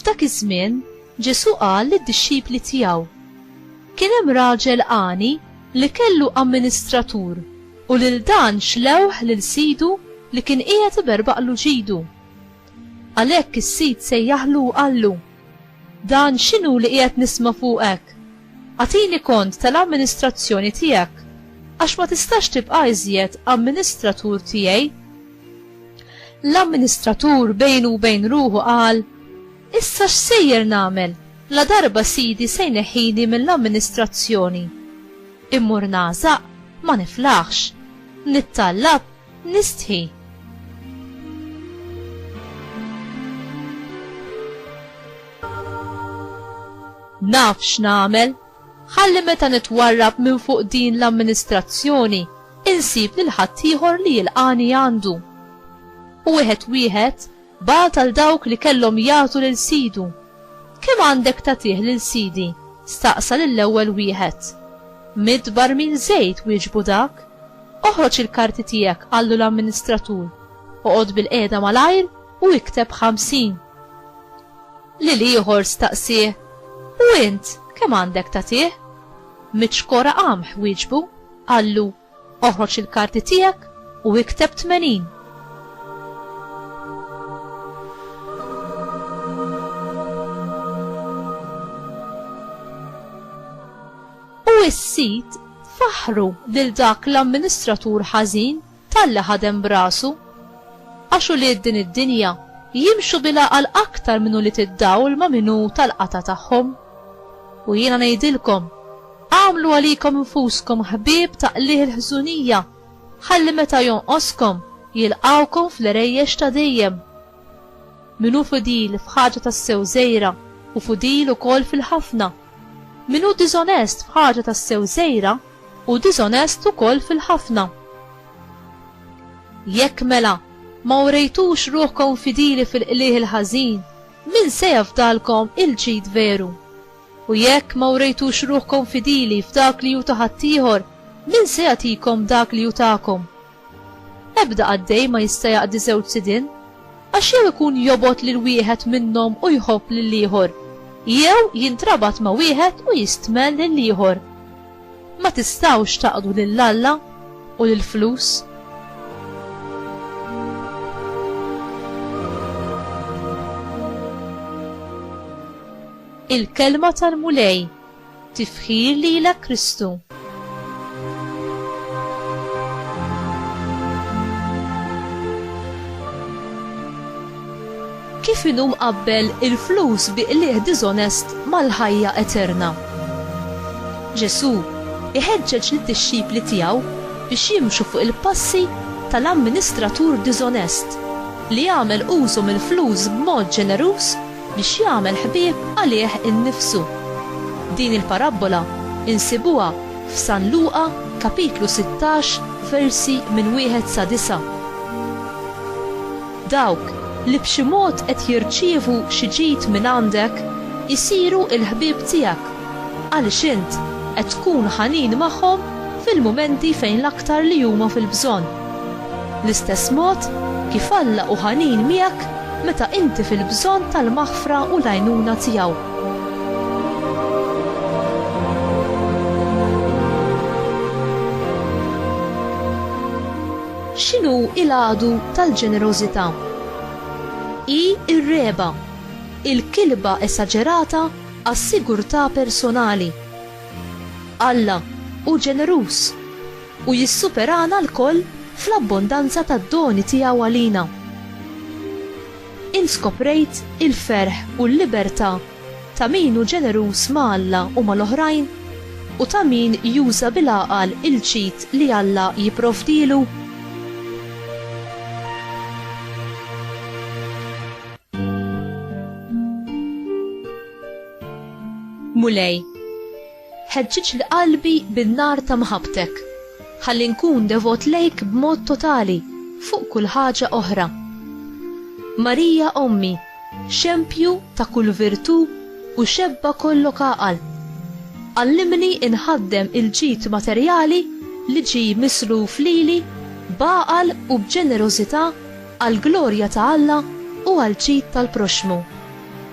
F'dak iż-żmien, Ġesù qal lid-dixxipli tiegħu, Kien hemm raġel għani li kellu amministratur u lil dan xlewh lil sidu li kien qiegħed iberbaqlu ġidu. Għalhekk is-sid sejjaħlu u qallu, Dan x'inhu li qiegħed nisma' fuqek? Agħtini kont tal-amministrazzjoni tiegħek, għax ma tistax tibqa' iżjed amministratur tiegħi. L-amministratur bejnu u bejn ruħu qal, Issa x'sejjer nagħmel, ladarba sidi se jneħħini mill-amministrazzjoni? Immur nagħżaq, ma niflaħx. Nittallab, Nistħi. Naf x'nagħmel. Ħalli meta nitwarrab minn fuq din l-amministrazzjoni insib lil ħaddieħor li jilqani għandu. U wieħed wieħed Bagħat għal dawk li kellhom jagħtu lil sidu. Kemm għandek tagħtih lil sidi? staqsa lill-ewwel wieħed. Mitt barmil żejt, wieġbu dak. Oħroġ il-karti tiegħek, qallu l-amministratur. Oqgħod bilqiegħda malajr u ikteb ħamsin. Lil ieħor staqsieh, U int, kemm għandek tagħtih? Mitt xkora qamħ, wieġbu. Qallu, Oħroġ il-karti tiegħek u ikteb 80. U s-sid faħħru lil dak l-amministratur ħażin talli ħadem b'rasu. Għax ulied din id-dinja jimxu bil-għaqal aktar minn ulied id-dawl ma' min hu tal-qatgħa tagħhom. U jiena ngħidilkom, Agħmlu għalikom infuskom ħbieb ta' qligħ il-ħżunija, ħalli meta jonqoskom, jilqgħukom fl-għerejjex ta' dejjem. Min hu fidil f'ħaġa tassew żgħira, hu fidil ukoll fil-ħafna. Min hu diżonest f'ħaġa tassew żgħira, hu diżonest ukoll fil-ħafna. Jekk, mela, ma urejtux ruħkom fidili fil-qligħ il-ħażin, min se jafdalkom il-ġid veru? U jekk ma wrejtux ruħkom fidili f'dak li hu ta' ħaddieħor, min se jagħtikom dak li hu tagħkom? Ebda qaddej ma jista' jaqdi żewġ sidien, għax jew ikun jobgħod lil wieħed minnhom u jħobb lill-ieħor, jew jintrabat ma' wieħed u jistmel lill-ieħor. Ma tistgħux taqdu lil Alla u lill-flus. Il-Kelma tal-Mulej. Tifħir lilek Kristu. Kif inhu mqabbel il-flus bi qligħ diżonest mal-ħajja eterna? Ġesù jħeġġeġ lid-dixxipli tiegħu biex jimxu fuq il-passi tal-amministratur diżonest li għamel użu mill-flus b'mod ġeneruż biex jagħmel ħbieb għalih innifsu. Din il-parabbola insibuha f'San Luqa kapitlu sittax versi minn wieħed sa disgħa. Dawk li b'xi mod qed jirċievu xi ġid mingħandek isiru l-ħbieb tiegħek għaliex int qed tkun ħanin magħhom fil-mumenti fejn l-aktar li huma fil-bżonn. L-istess mod kif Alla hu ħanin miegħek meta inti fil-bżonn tal-maħfra u l-għajnuna tiegħu. X'inhu l-għadu tal-ġenerożità? Hi r-regħba, il-kilba esaġerata għas-sigurtà personali. Alla hu ġeneruż, u jissuperana lkoll fl-abbondanza tad-doni tiegħu għalina. Int skoprejt il-ferħ u l-libertà ta' min hu ġeneruż ma' Alla u mal-oħrajn u ta' min juża bil-għaqal il-ġid li Alla jipprovdilu? Mulej. Ħeġġiġli qalbi bin-nar ta' mħabbtek, ħalli nkun devot lejk b'mod totali fuq kull ħaġa oħra. Marija Ommi, xempju ta' kull virtù u xebba kollok għaqal, għallimni inħaddem il-ġid materjali li ġie misluf lili b'għaqal u b'ġenerożità għall-glorja ta' Alla u għall-ġid tal-proxxmu.